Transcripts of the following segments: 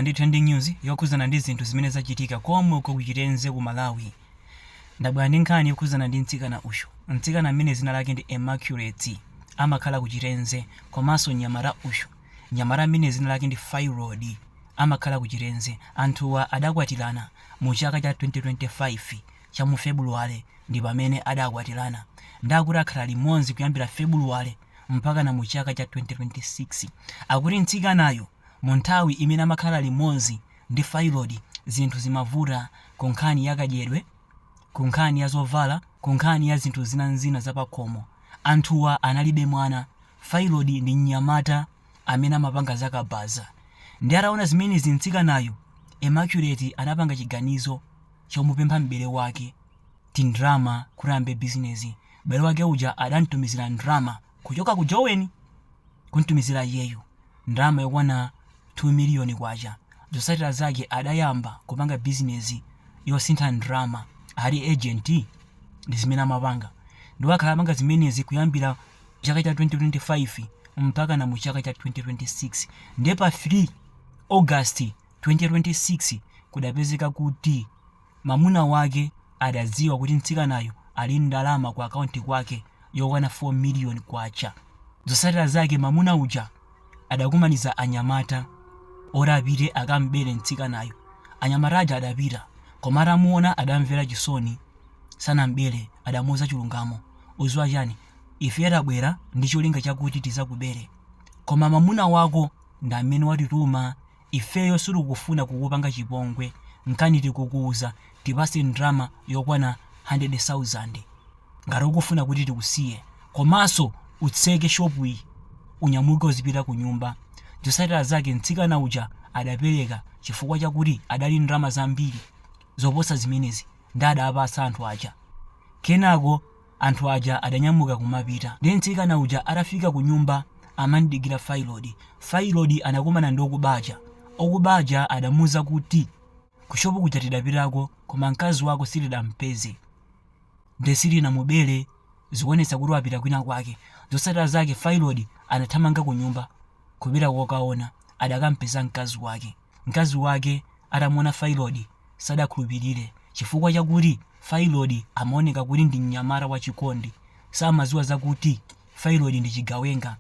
ndi trending news yokhuzana ndi zinthu zimene zachitika komko ku Chirenze ku Malawi. Ndabwera ndi nkhani yokhuzana ndi mtsikana uyu. Mtsikana amene dzina lake ndi Immaculate amakhala ku Chirenze komanso mnyamata uyu. Mnyamata amene dzina lake ndi Fairod amakhala ku Chirenze. Anthuwa adakwatirana mu chaka cha 2025 cha mu February ndi pamene adakwatirana. Ndi kuti akhala limodzi kuyambira February mpakana mu chaka cha 2026. Akuti mtsikanayo Mu nthawi imene amakhala limodzi ndi Fayilodi, zinthu zimavuta ku nkhani ya kadyedwe, ku nkhani ya zovala, ku nkhani ya zinthu zina n'zina za pakhomo. Anthuwa analibe mwana. Fayilodi ndi mnyamata amene amapanga za kabaza. Ndiye ataona zimenezi mtsikanayu, Emaculeti anapanga chiganizo chomupempha m'bale wake tindrama kuti ayambe bizinezi. M'bale wake uja adam'tumizira ndrama. kuchoka ku Joweni kumtumizira iyeyu ndalama yokwana K2 miliyoni zotsatira zake adayamba kupanga bizinezi yosintha ndrama ali agent ndizimene amapanga ndipo wakhala akupanga zimenezi kuyambira chaka cha 2025 mpakana mu chaka cha 2026 nde pa 3 August 2026 kudapezeka kuti Mamuna wake adadziwa kuti mtsikanayu ali ndi ndalama ku akaunti kwake yokwana K4 miliyoni. Zotsatira zake mamuna uja adakumanitsa anyamata oti apite akamubere mtsikanayu. Anyamata aja adapita koma atamuona adamvera chisoni sanamubere adamuuza chilungamo, udziwa chani ifeyo tabwera ndi cholinga chakuti tidzakubere koma mamuna wako ndamene watituma Ifeyo sitikufuna kukupanga chipongwe nkani tikukuuza tipatse ndrama yokwana hundred sauzand ngati ukufuna kuti tikusiye komanso utseke shopuyi unyamuke udzipita kunyumba zotsatira zake mtsikana uja adapereka chifukwa chakuti adali ndrama zambiri zoposa zimenezi nde adapatsa anthu aja kenako Anthu aja adanyamuka kumapita. Ndiye mtsikana uja atafika kunyumba amamdikira Failodi. Failodi anakumana ndi okuba aja. Okuba aja adamuuza kuti, Kushopu kuja tidapitako koma mkazi wako sitidampeze. Ndiye sitinamubere, zikuonetsa kuti wapita kwinakwake. Zotsatira zake Failodi anathamanga kunyumba. Kupita kokaona, adakampeza mkazi wake. Mkazi wake atamuona Failodi sadakhulupirire chifukwa chakuti Failodi amaoneka kuti ndi mnyamata wachikondi. Samadziwa zakuti Failodi ndi chigawenga.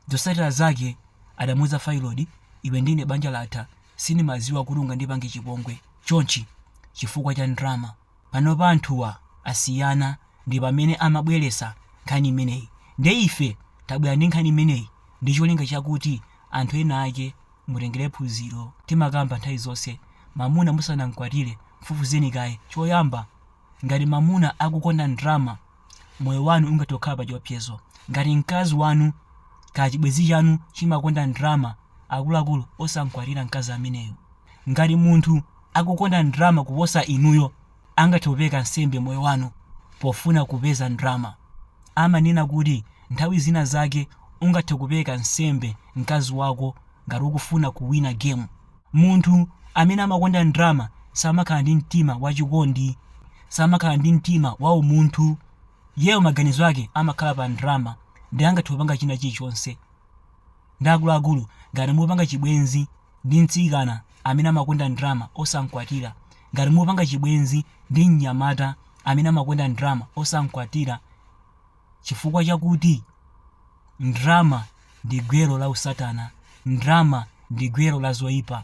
Zotsatira zake adamuuza Failodi, Iwe ndi ine banja latha, sindimadziwa kuti ungandipange chipongwe chonchi chifukwa cha ndalama. panopa anthuwa asiyana ndipamene amabwelesa nkhani imeneyi nde ife tabwera ndi nkhani imeneyi ndicholinga chakuti anthu enaake mutengele phunziro timakamba nthawi zonse mamuna musanamkwatile mfufuzeni kaye choyamba ngati mamuna akukonda ndrama Moyo wanu ungathe kukhala pachiwopsezo ngati mkazi wanu kachibwenzi chanu chimakonda ndalama, akuluakulu osamkwatira mkazi ameneyo. Ngati munthu akukonda ndalama kuposa inuyo, angathe kupereka nsembe moyo wanu pofuna kupeza ndalama. Amanena kuti nthawi zina zake ungathe kupereka nsembe mkazi wako ngati ukufuna kuwina gemu. Munthu amene amakonda ndalama samakhala ndi mtima wachikondi, samakhala ndi mtima waumunthu. Iyeyo maganizo ake amakhala pa ndalama nde angathe kupanga china chilichonse nde akuluakulu. Ngati mupanga chibwenzi ndi mtsikana amene amakonda ndalama, osamkwatira. Ngati mupanga chibwenzi ndi mnyamata amene amakonda ndalama, osamkwatira. Chifukwa chakuti ndalama ndi gwero la usatana. Ndalama ndi gwero la zoipa.